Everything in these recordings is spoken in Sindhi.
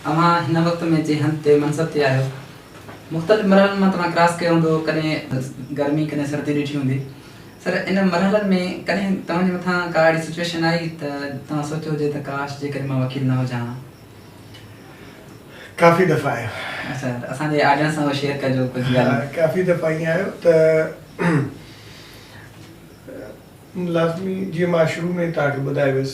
اوهان هن وقت ۾ جنهن هنڌ تي منصب تي آهيو، مختلف مرحلن مان توهان ڪراس ڪيو هوندو، ڪڏهن گرمي ڪڏهن سردي ڏٺي هوندي، سر ان مرحلن ۾ ڪڏهن توهان جي مٿان ڪا اهڙي سچوئيشن آئي ته توهان سوچيو هجي ته ڪاش جيڪڏهن مان وڪيل نه هجان ها؟ ڪافي دفعا آيو. اچا ته اسان جي آڊينس سان اهو شيئر ڪجو ڪجهه ڳالهيون. ها ڪافي دفعا ائين آيو ته لازمي جيئن مان شروع ۾ توهان کي ٻڌائي ويس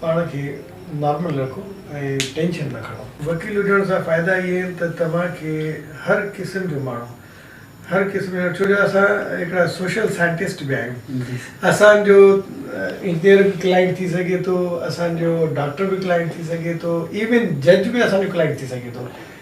پاڻ کي نارمل رکو ۽ ٽينشن نه کڻو. وڪيل هجڻ سان فائدا اهي آهن ته توهان کي هر قسم جو ماڻهو هر قسم جو ڇو جو اسان هڪڙا سوشل سائنٽسٽ به آهيون اسان جو انجنيئر به ڪلائنٽ ٿي سگهي ٿو اسان جو ڊاڪٽر به ڪلائنٽ ٿي سگهي ٿو ايون جج به اسان جو ڪلائنٽ ٿي سگهي ٿو.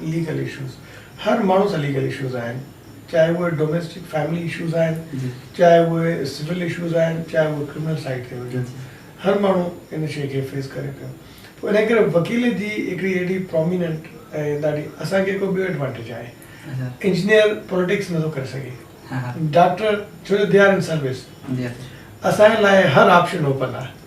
ليگل اشوز هر ماڻهو سان ليگل اشوز آهن چاهي اهي ڊوميسٽڪ فيملي اشوز آهن چاهي اهي سول اشوز آهن چاهي اهي ڪرمنل سائيڊ تي هجن هر ماڻهو ان شيء کي فيس ڪري پيو پوء انهي ڪري وڪيل جي هڪڙي اهڙي پروميننٽ ۽ ڏاڍي اسان کي هڪڙو ٻيو ايڊوانٽيج آهي انجنيئر پوليٽڪس نٿو ڪري سگهي ڊاڪٽر ڇو جو دي آر ان سروس اسان لاء هر آپشن اوپن آهي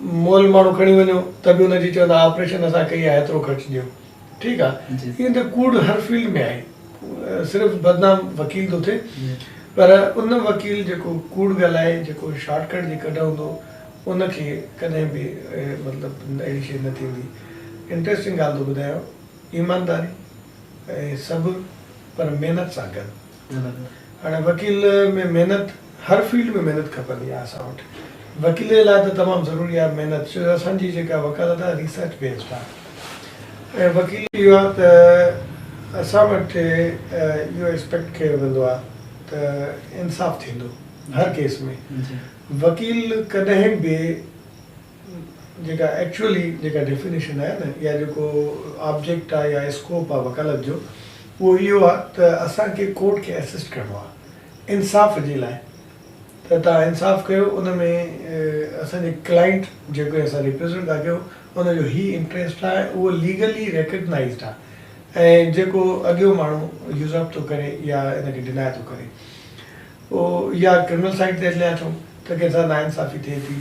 مئل ماڻهو کڻي وڃو ته به ان جي چوندا آپريشن اسان ڪئي آهي ايترو خرچ ڏيو ٺيڪ آ ايئن ته ڪوڙ هر فيلڊ ۾ آهي صرف بدنام وڪيل ٿو ٿئي پر ان وڪيل جيڪو ڪوڙ ڳالهائي جيڪو شارٽ ڪٽ جي ڪڍ هوندو ان کي ڪڏهن به مطلب اهڙي شي نه ٿيندي انٽريسٽنگ ڳالهه ٿو ٻڌايان ايمانداري ۽ صبر پر محنت سان گڏ هاڻي وڪيل ۾ محنت هر فيلڊ ۾ محنت کپندي آهي اسان وٽ وڪيلي لاء ته تمام ضروري آهي محنت ڇو جو اسان جي جيڪا وڪالت آهي ريسرچ بيسڊ آهي ۽ وڪيل اهو آهي ته اسان وٽ اهو ايڪسپيڪٽ ڪيو ويندو آهي ته انصاف ٿيندو هر ڪيس ۾ وڪيل ڪڏهن به جيڪا ايڪچوئلي جيڪا ڊيفينيشن آهي نه يا جيڪو آبجيڪٽ آهي يا اسڪوپ آهي وڪالت جو اهو اهو آهي ته اسان کي ڪورٽ کي اسسٽ ڪرڻو آهي انصاف جي لاء ته توهان انصاف ڪيو ان ۾ اسان جي ڪلائنٽ جيڪو اسان ريپريزنٽ ٿا ڪيون ان جو هي انٽريسٽ آهي اهو ليگلي ريڪگنائيزڊ آهي ۽ جيڪو اڳيون ماڻهو يوزرپ ٿو ڪري يا ان کي ڊناء ٿو ڪري. او يا ڪرمنل سائيڊ تي هليا اچون ته ڪنهن سان ناانصافي ٿئي ٿي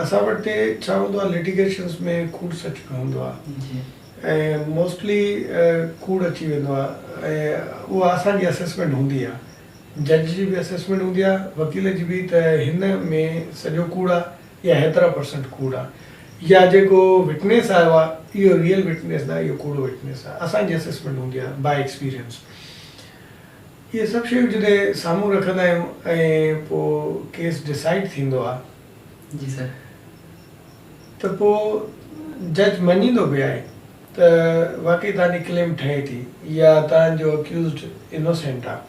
اسان وٽ تي ڇا هوندو آهي لٽيگيشنس ۾ ڪوڙ سچ به هوندو آهي ۽ موسٽلي ڪوڙ اچي ويندو آهي ۽ اها اسان جي اسيسمينٽ هوندي آهي جج جي به اسيسمينٽ هوندي آهي وڪيل جي به ته هن ۾ سڄو ڪوڙ آهي يا هيترا پرسنٽ ڪوڙ آهي يا جيڪو وٽنيس آيو آهي اهو ريئل وٽنيس ناهي اهو ڪوڙو وٽنيس آهي اسان جي اسيسمينٽ هوندي آهي باء ايڪسپيرينس اهي سڀ شيون جڏهن سامهون رکندا آهيون ۽ پوء ڪيس ڊسائيڊ ٿيندو آهي. جي سر. ته پوء جج مڃيندو به آهي ته واقعي تهانجي ڪليم ٺهي ٿي يا تهانجو اڪيوزڊ انوسينٽ آهي.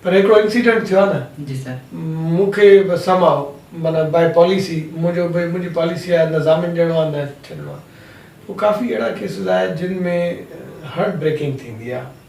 پر هڪڙو انسيڊنٽ ٿيو آهي نه. جي سر. مون کي به سم هاء معنيٰ بائي پاليسي منهنجو به منهنجي پاليسي آهي نه ضامن ڏيڻو آهي نه ڇڏڻو آهي. پوء ڪافي اهڙا ڪيسز آهي جن ۾ هرٽ بريڪنگ ٿيندي آهي.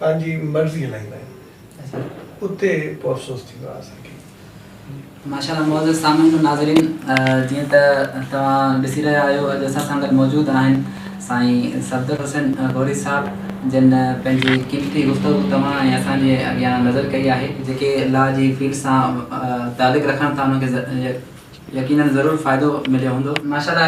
پنهنجي مرضي هلائيندا آهن اتي پوء افسوس ٿيندو آهي اسان کي. ماشاءالله معزز سامعين و ناظرين جيئن ته توهان ڏسي رهيا آهيو اڄ اسان سان گڏ موجود آهن سائين صفدر حسين غوري صاحب جن پنهنجي قيمتي گفتگو توهان ۽ اسان جي اڳيان نظر ڪئي آهي جيڪي لا جي فيلڊ سان تعلق رکن ٿا انهن کي يقينن ضرور فائدو مليو هوندو. ماشاءالله.